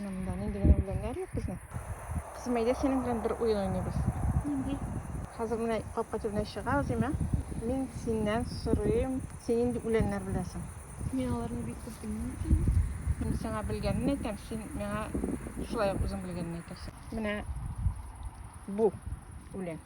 Монда нинди генә үләннәр юк безнең. Кызым, әйдә синең белән бер уен уйныйбыз. Нинди? Хәзер менә капка төбенә чыгабыз, әмма мин синнән сорыйм, син нинди үләннәр беләсең? Мин аларны бик күп белмим икән. Мин сиңа белгәнен әйтәм, син миңа шулай ук үзең белгәнен әйтерсең. Менә бу үлән.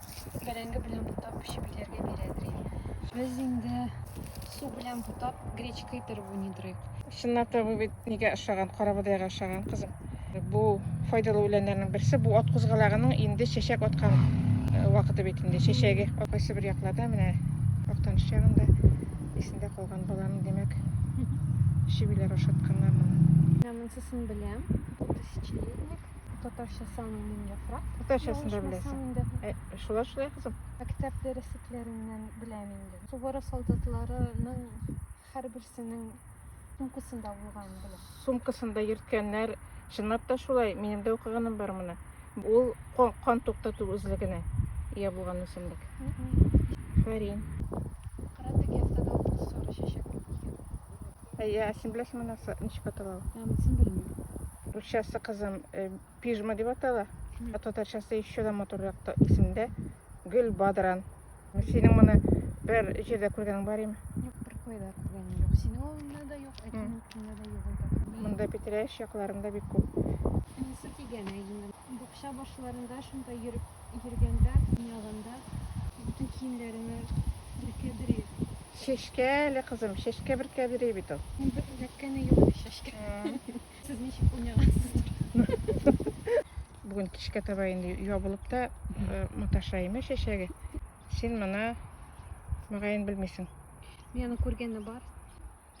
бәрәңге белән бутап пешебиләргә бирәдри. Без инде су белән бутап гречка итер бу нидри. Чынлап та бу бит нигә ошаган, карабодайга ошаган кызым. Бу файдалы үләннәрнең берсе, бу ат кузгалагының инде чәчәк аткан э, вакыты бит инде. Чәчәге кайсы бер якларда менә актаныш ягында исендә калган баланы димәк шибиләр ашатканнар. Менә монсысын беләм. Тысячелетник. Татарча самый мин яфрак. Татарчасын да беләсең. Инде. Ә, э, шулай шулай кызым. Мәктәп дәреслекләреннән беләм инде. Сугара солдатларының һәрберсенең сумкасында булган беләм. Сумкасында йөрткәннәр, чынлап та шулай, минем дә укыганым бар моны. Ул кан, кан туктату үзлегенә ия булган үсемлек. Фарин. Әйе, ә син беләсеңме нәрсә, ничек атала ул? Ә, монысын белмим. Русчасы кызым э, пижма дип атала. Ә татарчасы еще да матуррак та исемдә гөл бадран. Синең моны бер җирдә күргәнең бар име? Юк, бер кайда күргәнем юк. Синең авылыңда да юк, әтинең өстендә дә юк ул. Монда Питрәч якларында бик күп. Монысы дигән әйе. Бакча башларында шунда йөреп йөргәндә, уйнаганда бөтен киемләреңә бөркә-бөркә Чәчкә әле кызым, чәчкә бер кәбери бит ул. Мин бер эләккәне юк әле чәчкә. Сез ничек уйнагансыздыр? Бүген кичкә таба инде ябылып та э, маташа име чәчәге. Син моны мөгаен белмисең. Мин аны күргәне бар.